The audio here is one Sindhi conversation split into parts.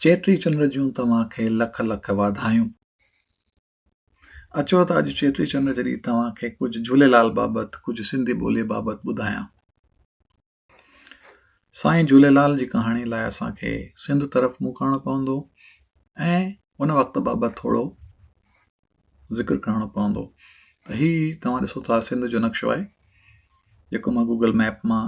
چيٽي چنڊ جون توهان کي لک لک واڌايون اچو ته اڄ چيٽي چنڊ جي ڏينهن توهان کي ڪجهه جھوليلال بابت ڪجهه سنڌي ٻولي بابت ٻڌايان سائين جھوليلال جي ڪهاڻي لاء اسان کي سنڌ طرف منهن ڪرڻو پوندو ۽ ان وقت بابت ٿورو ذڪر ڪرڻو پوندو ته هي توهان ڏسو ٿا سنڌ جو نقشو آهي جيڪو مان گوگل ميپ مان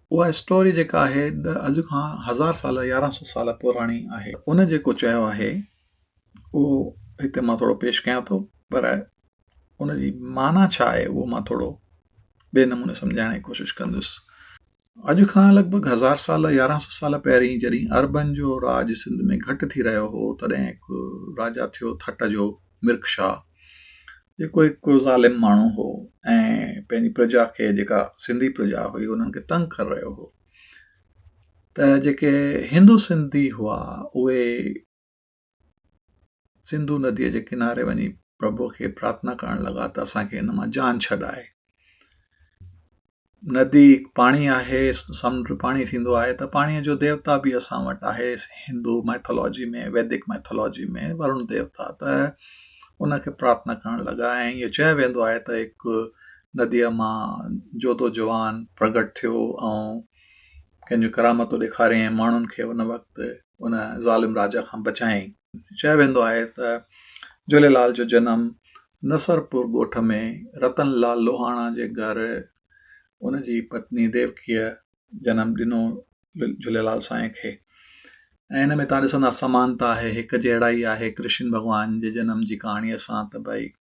اها اسٽوري جيڪا آهي اڄ کان هزار سال يارهن سو سال پراڻي آهي ان جيڪو چيو آهي اهو هتي مان ٿورو پيش ڪيان ٿو پر ان جي معنيٰ ڇا آهي اهو مان ٿورو ٻئي نموني سمجهائڻ جي ڪوشش ڪندس اڄ کان لڳ ڀڳ هزار سال يارهن سو سال پهرين جڏهن اربن جو راڄ سنڌ ۾ گهٽ ٿي رهيو هو تڏهن هڪ راجا ٿيو ٿٽ جو مرڪ شاهه جيڪو هڪ ظالم ماڻهو هو ۽ پنهنجي پرجا کي جيڪا سنڌي پرجا هئي انهن کي تنگ ڪري رهيو هو ته جيڪي هندو سنڌي هئا اهي سنڌو نديء جي ڪناري وڃي پرڀو کي پرارٿنا ڪرڻ لڳا ته اسانکي هن مان جان ڇڏائي ندي هڪ پاڻي آهي، سمنڊ به پاڻي ٿيندو آهي ته پاڻيء جو ديوتا به اسان وٽ آهي هندو مائٿالاجي ۾ ويدڪ مائٿالاجي ۾ ورڻ ديوتا ته ان کي پرارٿنا ڪرڻ لڳا ۽ اهو چيو ويندو آهي ته هڪ نديء مان جوڌو جوان پرگهٽ ٿيو ۽ ڪنهن جون ڪرامتون ڏيکاريائين ماڻهن کي ان وقت ان ظالم راجا کان بچايائين چيو ويندو آهي ته جهوليلال جو جنم نصرپور ڳوٺ ۾ رتن لال لوهاڻا جي گهر ان جي پتني ديوڪيء جنم ڏنو جهوليلال سائين کي ۽ ان ۾ تان ڏسندا سمانتا آهي هڪ جهڙائي آهي ڪرشن ڀڳوان جي جنم جي ڪهاڻيء سان ته ڀائي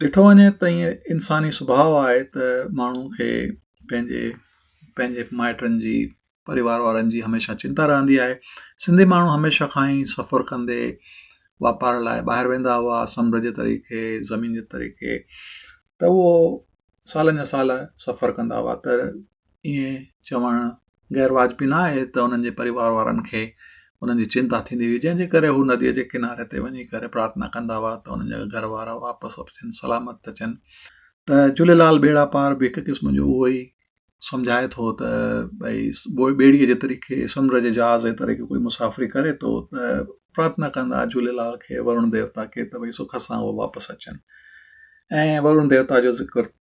ڏٺو وڃي ته ائين انساني سڀاء آهي ته ماڻهو کي پنهنجي پنهنجي مائٽن جي پريوار وارن جي هميشه چنتا رهندي آهي سنڌي ماڻهو هميشه کان ئي سفر ڪندي واپار لاء ٻاهر ويندا هئا سمنڊ جي طريقي زمين جي طريقي ته هو سالن جا سال سفر ڪندا هئا ته ائين چوڻ غير واجبي نه آهي ته انهن جي پريوار وارن کي انهن جي چنتا ٿيندي هئي جنهن جي ڪري هو نديء جي ڪناري تي وڃي ڪري پرارٿنا ڪندا هئا ته انهن جا گهر وارا واپس اچن سلامت اچن ته جهوليلال ٻيڙا پار به هڪ قسم جو اهو ئي سمجهائي ٿو ته ڀئي ٻيڙيء جي طريقي سمنڊ جي جهاز جي طريقي ڪوئي مسافري ڪري ٿو ته پرارٿنا ڪندا جهوليلال کي ورڻ ديوتا کي ته ڀئي سک سان هو واپس اچن ۽ ورڻ ديوتا جو ذڪر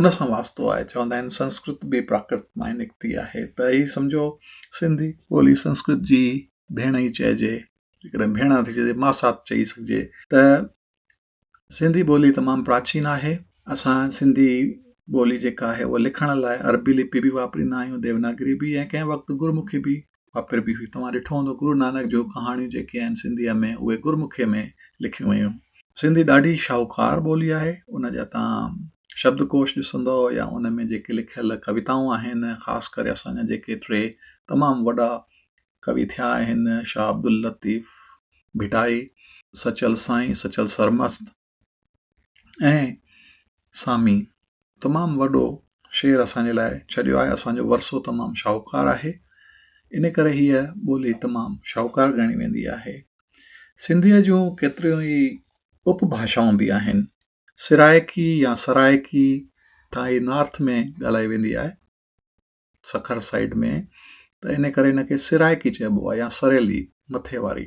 ان سان واسطو آهي چوندا آهن سنسڪرت به پراڪرت مان نڪتي آهي ته هي سمجهو سنڌي ٻولي سنسڪرت جي ڀيڻ ئي چئجي جيڪڏهن ڀيڻ نٿي چئجي ماسات چئي سگهجي ته سنڌي ٻولي تمام پراچين آهي اسان سنڌي ٻولي جيڪا آهي اها لکڻ لاء عربي لپي به واپريندا آهيون ديوناگري به ۽ ڪنهن وقت گرمکي به اها پھر به هئي. توهان ڏٺو هوندو گرو نانڪ جون ڪهاڻيون جيڪي آهن سنڌيء ۾ اهي گرمکيء ۾ لکيون ويون. سنڌي ڏاڍي شاهوڪار ٻولي آهي. ان جا توهان شبدڪوش ڏسندؤ يا ان ۾ جيڪي لکيل ڪويتائون آهن خاص ڪري اسان جا جيڪي ٽي تمام وڏا ڪوي ٿيا آهن شاهه عبداللطيف ڀٽائي، سچل سائين، سچل سرمست، ۽ سامي تمام وڏو شعر اسان جي لاء ڇڏيو آهي اسان جو ورثو تمام شاهوڪار آهي ان ڪري هيء ٻولي تمام شاهوڪار ڳڻي ويندي آهي سنڌيء جون ڪيتريون ئي اپ ڀاشائون به آهن سرائڪي يا سرائڪي تان هي نارٿ ۾ ڳالهائي ويندي آهي سکر سائيڊ ۾ ته ان ڪري ان کي سرائڪي چئبو آهي يا سريلي مٿي واري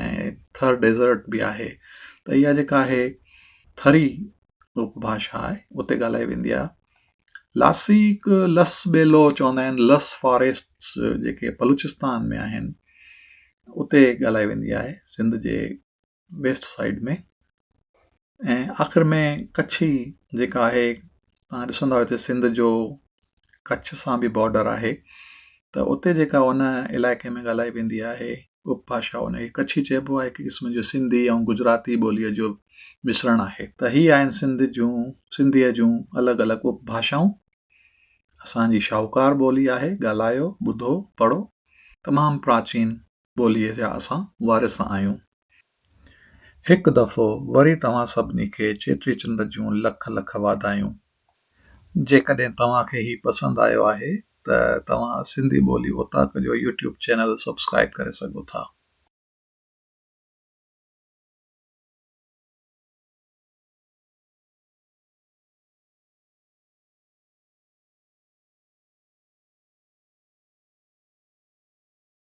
۽ ٿر ڊيزرٽ به آهي ته اها جيڪا آهي ٿري اپ ڀاشا آهي اتي ڳالهائي ويندي آهي لاسي هڪ لس ٻيلو چوندا آهن لس فاريسٽس جيڪي بلوچستان ۾ آهن اتي ڳالهائي ويندي آهي سنڌ جي ويسٽ سائيڊ ۾ ۽ آخر ۾ ڪڇي جيڪا آهي تان ڏسندا هتي سنڌ جو ڪڇ سان به بارڊر آهي ته اتي جيڪا هن علائقي ۾ ڳالهائي ويندي آهي اپ باشا ان کي ڪڇي چئبو آهي هڪ قسم جو سنڌي ۽ گجراتي ٻوليء جو مشرڻ آهي ته هي آهن سنڌ جون سنڌيء جون الڳ الڳ اپ باشائون اسان جي شاهوڪار ٻولي آهي ڳالهايو ٻڌو پڙهو تمام پراچين ٻوليء جا اسان وارث آهيون. هڪ دفعو وري توهان سڀني کي چيٽي چنڊ جون لک لک واڌايون. جيڪڏهن توهان کي هي پسند آيو آهي ته توهان سنڌي ٻولي اوطاق جو يوٽيوب چينل سبسڪرائيب ڪري سگهو ٿا.